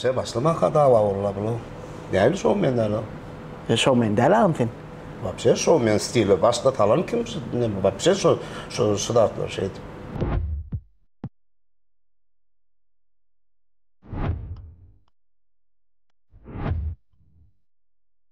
Bakja başlamanka dawa bollar bular. Nähili şoumen däl o? Sen şoumen däl agam sen. Wapşe şoumen stile başda talan kim şu näme wapşe şu şu şu zatlar şeýdip.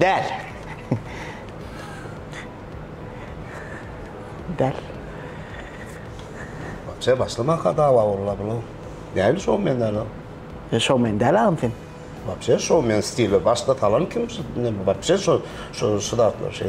Däl. Däl. Sen başlamaka dawa bolla bunu. Näli şow men däl o? E, şow men däl agam sen. Wapşe şow men stili başda talan kim şu ne wapşe şu şu şu zatlar şey.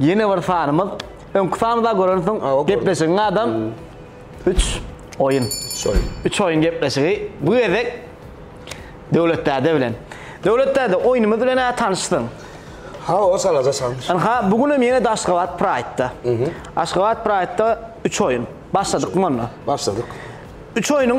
Ýene bir sanymyz. Öňki sanymyzda görensiň, gepleşigiň adam 3 oýun. 3 oýun. 3 oýun gepleşigi. Bu gezek Döwlet däde bilen. Döwlet däde, oýnumyz bilen ä tanyşsyň. Ha, o salaja tanyş. Ynha, bu gün hem ýene-de Aşgabat Pride-da. Aşgabat Pride-da 3 oýun. Başladyk onda. Başladyk. 3 oýnuň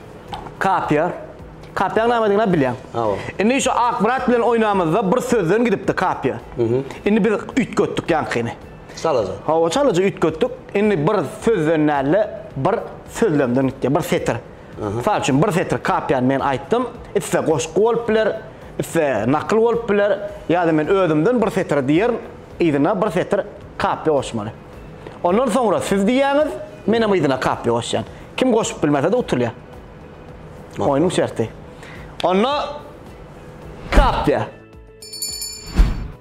Kapýa. Kapýaň nämedigini bilýäň. Hawa. Indi şu Akmyrat bilen oýnamyzda bir sözden gidipdi Kapýa. Indi biz üýtgetdik ýaňkyny. Çalaja. Hawa, çalaja üýtgetdik. Indi bir sözden däl-de, bir sözlemden gitdi, bir setir. Mysal üçin, bir setir Kapýany men aýtdym. Iste goşgy bolup biler, iste nakyl bolup biler, ýa-da men özümden bir setir diýerin, yzyna bir setir Kapýa goşmaly. Ondan soňra siz diýýäňiz, menem yzyna kapli goşýan. Kim goşup bilmese-de utulýar. Oýnuň şerti. Onda kapli.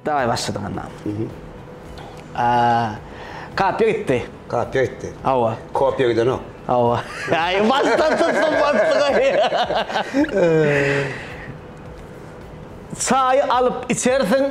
Daway başladyk onda. Kapli gitdi. Kapli gitdi. Hawa. Kopya gidenok. Hawa. Aý, başdan tutdum, başdan. Çaýy alyp içersiň.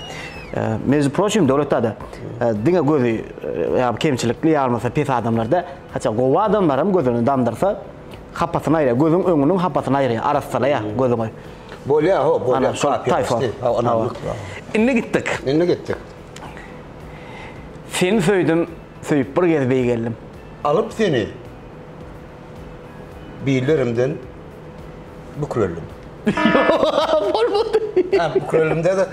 Межi proçim döwletde de diňe gözi ýa kemçilikli ýa bolmasa pes adamlarda haça gowy adamlar hem gözüni damdyrsa hapasyny aýra gözüň öňüniň hapasyny aýra arassalaýa gözüňi. Bolýa ho bolýa şol taýfa. Indi gitdik. Indi gitdik. Seni söýdüm, söýüp bir gez beý geldim. Alyp seni. Billerimden bükreldim. Bolmady. Bükrelimde de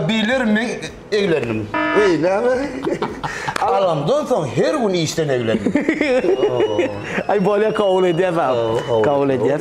billerimden eglendim. Eý, näme? Alamdan soň her gün işden eglendim. Aý, bolýar, kabul edýäs, aga. Kabul edýäs.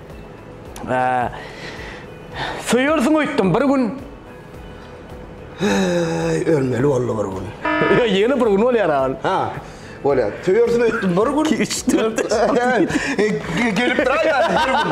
Söýersiň öýtdüm bir gün. Ölmeli boldy bir gün. Ýene bir gün bolýar aýl. Ha. Bolýar. Söýersiň öýtdüm bir gün. 2 3 4. Gelip dur aýdan bir gün.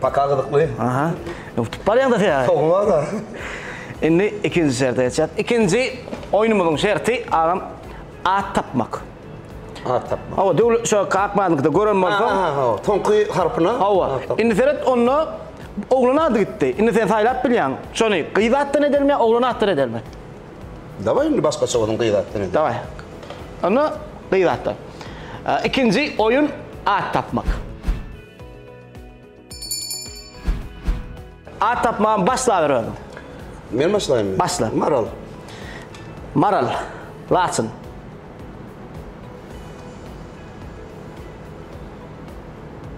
Paka gyzykly. Aha. Utup barýaňda sen ýa. Sowulmada. Indi ikinji şerte geçýäs. Ikinji oýnumyzyň şerti agam at tapmak. At tapmak. Hawa, döwlet şo Kakmanyňkyda gören bolsaň. Aha, aha, hawa. Soňky harpyna. Hawa. Indi seret, onda oglan ady gitdi. Indi sen saýlap bilýäň. Şony gyz atdan edelimi ýa oglan atdan edelimi? Dawaý indi başgaça bolsun, gyz atdan edelim. Dawaý. Onda gyz atdan. Ikinji oýun at tapmak. At tapmaga başlaber özüm. Men başlaýyn. Başla. Maral. Maral. Laçyn.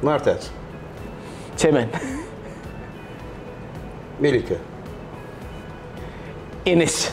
Martaç. Çemen. Melike. Enes.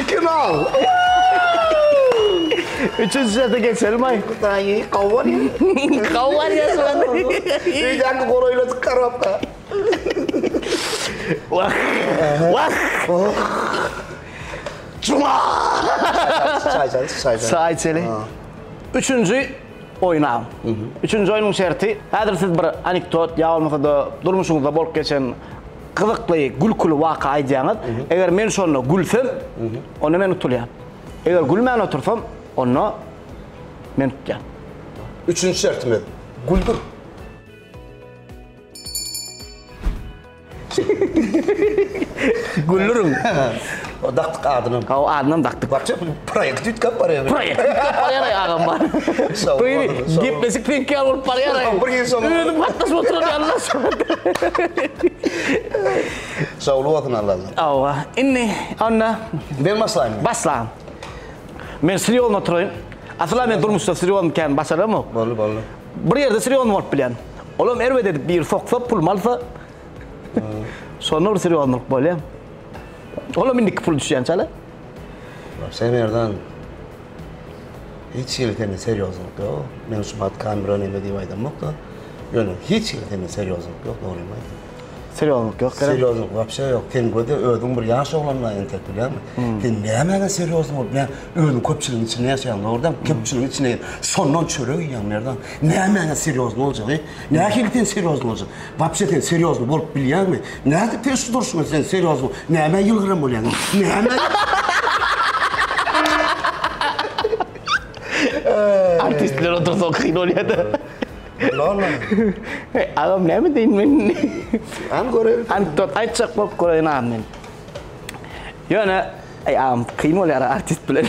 Iki nol. Üçünji sete geçelimaý. Daýy gowar. Gowar ýaşan. Öýdäki golaýladyk karapka. Wah. Wah. Juma. Çaý çaý çaý. Çaý çeli. Üçünji oýna. Üçünji oýnuň şerti. Häzir siz bir anekdot ýa bolmasa-da durmuşyňyzda bolup geçen Gyzykly, gülküli waka aýdýaňyz. Eger men şonda gülsem, onda men utulýan. Eger gülmän otursam, onda men tutýan. Üçünji şertimiz, güldür. Güldürin. O daktyk adynam. Aw adynam dakdyk. Barça proýekt düýtgäp barýar. Proýekt düýtgäp barýar aý agam bar. Beýle gepleşik pek ýaly bolup barýar aý. Bir ýyl soň. Özüm gatnaşyp oturan ýalyna Şowly bolsun Alla Allah. Awa. Indi onda. Men başlaýyn. Başla. Men sirýozny oturaýyn. Asla men durmuşda sirýozny kän başaramok. Boldy boldy. Bir ýerde sirýozny bolup bilýän. Olam erbet edip biri soksa pulumy alsa. Şonda bir sirýoznylyk bolýa. Olam indiki pul düşýän çala. Sen erdan hiç hili sende serýozlyk ýok. Men şu wagt kamera neme diýip aýdamok da. Ýöne hiç hili sende serýozlyk ýok, dogrymy aýtdym. Serýozlyk ýok. Serýozlyk wapşe ýok. Sen göde özüň bir ýaş oglanlaň entek bilýäňmi? Sen nämäňe serýozny bolup, näme özüň köpçüligiň içinde ýaşaýaň, dogry däl? Köpçüligiň içinde şondan çörek iýýäň, Merdan. Nämäňe serýozny boljagy? Nähili sen serýozny boljak? Wapşe sen serýozny bolup bilýäňmi? Nädip peşli durşuňa sen serýozny? Nämä ýylgyran bolýaň? Nämä? Artistler otursa kyn bolýar-da. Lala. Hey, agam näme deýin men? An göreýin. Anekdot aýtjak bolup göreýin agam men. Ýöne, eý agam, kyn bolýar artist bilen.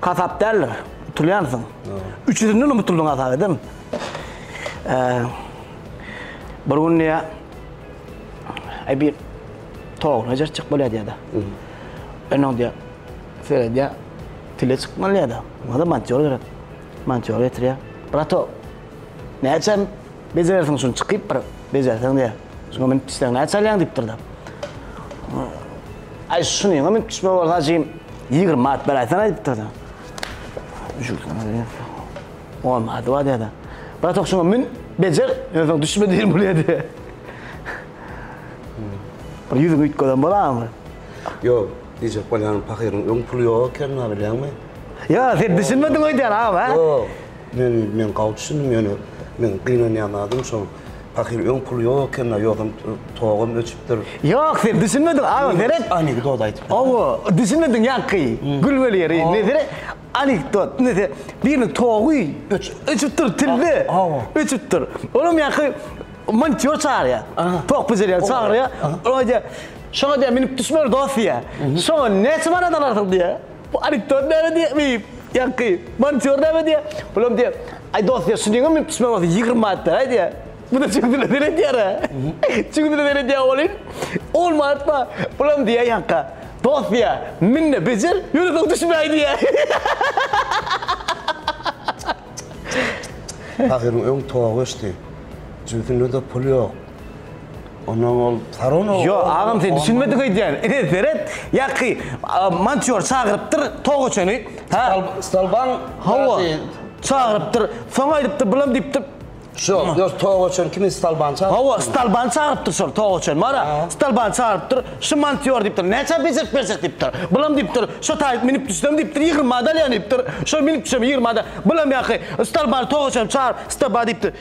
Hasap däldir. Utulýansyň. Üç ýüzünden hem utuldyň hasap edem. Bir gün diýýär, Aý bir toguna jerçek bolýar diýýär-de. Indi oň diýýär, seredýär, tile çykmaly diýýär-de. Onda mantýor gerek. Mantýor getirýär. Brato, näçe Bejerersiň şuny çykyp bir bejerseň diýýär. Şuňa minip düşseň näçe alýaň diýipdir-de. Aý şunyňa minip düşme bolsa jigim 20 manat beräýseň aýdypdyr-da. Olmady wa diýýär-de. Bratok şuňa min bejer, ýöne düşme diýen bolýar diýýär. Bir ýüzüňi üýtgeden bolarmy? Ýok, diýjek bolýan pahyryň öň puly ýok ekeni-la bilýäňmi? Ýa, sen düşünmediň öýdýän agam, hä? Ýok. Men, men gawy düşündim ýöne meň gynanýan zadym şol pahyr öň puly ýok ekeni-a ýogsam togam öçüpdir. Ýok sen düşünmediň aga seret. Anekdot aýdypdyr. Hawa düşünmediň ýaňky gül bol ýeri nesire anekdot nese biriniň togy öçüpdir tilde öçüpdir olam ýaňky montýor çagyrýar tok bejerýän çagyrýar oýa diýýär şoňa diýýär münüp düşmeli dos diýýär şoňa näçe manat alarsyň diýýär. Bu anekdot näme diýýär beýim? Ýaňky montiýor näme diýýär? Bulam diýýär, Aý dost diýýär, şunuň hem münüp düşmegi bolsa ýigrimi manatdan-aý diýýär. Bu-da çüň diline seredýär-ä. Çüň diline seredýär welin, on manat bar. Bulam diýýär ýaňka, Dost diýýär, min-de bejer, ýöne soň düşmäý diýýär. Pahyryň öň togy öçdi. Jübüsinde-de pul ýok. Ondan ol Sarona Yo, agam sen düşünmedik öýdýän. Ine seret, ýaky montior çagyrypdyr togaçany. Ha, Stalban hawa. Çagyrypdyr. Soň aýdypdyr, bulam diýipdir. Şo, yo togaçany kimin Stalban çagyrypdyr? Hawa, Stalban çagyrypdyr şol togaçany. Mara, Stalban çagyrypdyr. Şu montior diýipdir. Näçe bejerip berjek diýipdir. Bulam diýipdir. Şo taýyp münüp düşsem diýipdir, ýigrimi manat alýan diýipdir. Şo münüp düşem ýigrimi manat. Bulam ýaky Stalban togaçany çagyryp, Stalban diýipdir.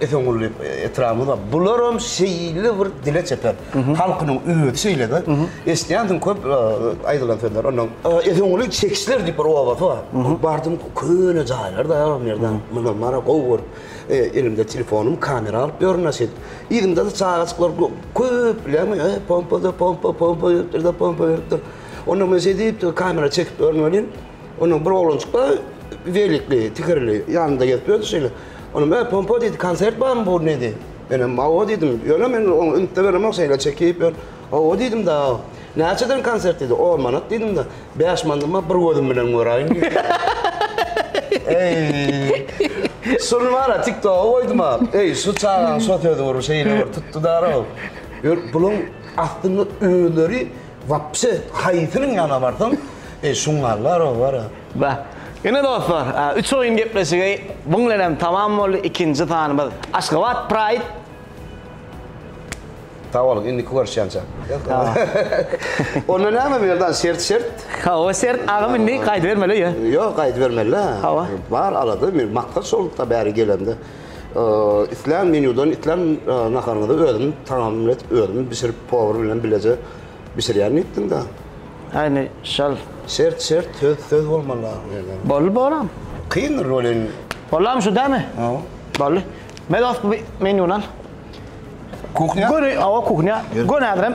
Esenguly etrabymyz bar. Bularam şeýle bir dile çeper. Halkynyň özi şeýle-de. Eşidýänsiň köp aýdylan sözler. Ondan Esenguly çekişler diýip bir obasy bar. Bardym köne jaýlar-da o ýerde. Muna mara gowy görüp, elimde telefonym kamera alyp ýörün a şeýdip. Yzymda-da çagajyklar köp bileňmi, e, pompa-da pompa, pompa beripdir-de, pompa beripdir. Onda men şeýdip kamera çekip ýörün welin, Onuň bir oglançyk bar, zeýlikli, tigirli, ýanynda gezip ýördi şeýle. Onuň ä pompa diýdi, konsert barmy bu nedi? Menem hawa diýdim. Ýöne men oňa üns-de beremok, şeýle çekip ýör. Hawa diýdim-de. Näçeden konsert diýdi. On manat diýdim-de. Bäş mandyma bir gözüm bilen göräýin diýdi. Eý! Şuny bar-a TikToga goýdum-a. Eý, şu çagaň şo sözi bir şeýle bir tutdy-da-row. Ýör, bulaň aslynda özleri Wapse haýsynyň ýanyna barsaň e şungallar olara. Ba. Ine dostlar, üç oýun gepleşigi bu bilen hem tamam boldy. Ikinji sanymyz Aşgabat Pride. Sag boluň, indiki görüşýänçä. Onda näme bu ýerde şert şert. Hawa şert agam indi gaýdybermeli öýe. Ýok gaýdybermeli. Hawa. Bar alada men maksat şolukda bäri gelemde. Islän menýudan, islän naharyňyzy özüm tagamlat özüm bişirip, powar bilen bileje bişirýän diýipdiň-dä. Äýne, şol. Şert, şert, söz, söz bolmaly agzybirlige. Boldy, bolam. Kyndyr welin. Bolam şu dälmi? Hawa. Boldy. Medow menýuny al. Kuhňa? Göni, hawa, kuhňa. Gönäzirem.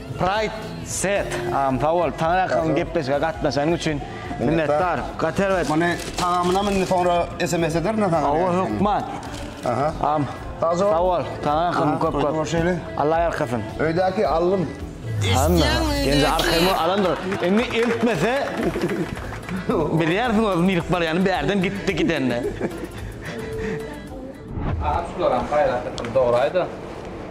Pride set am sag bol taňra ýakyn gepleşige gatnaşanyň üçin minnetdar gaty erbet. Muny tagamynam indi soňra sms ederin men saňa. Hawa hökman. Aha. Am sag bol taňra ýakyn köp köp. Alla ýalkasyn. Öýdäki allym. Hamma indi arkaýyn alandyr. Indi eltmese bilýärsiň özüm ýylyp barýany bärden gitdi gidende. Agam şularam paýlaşypdym doraýda.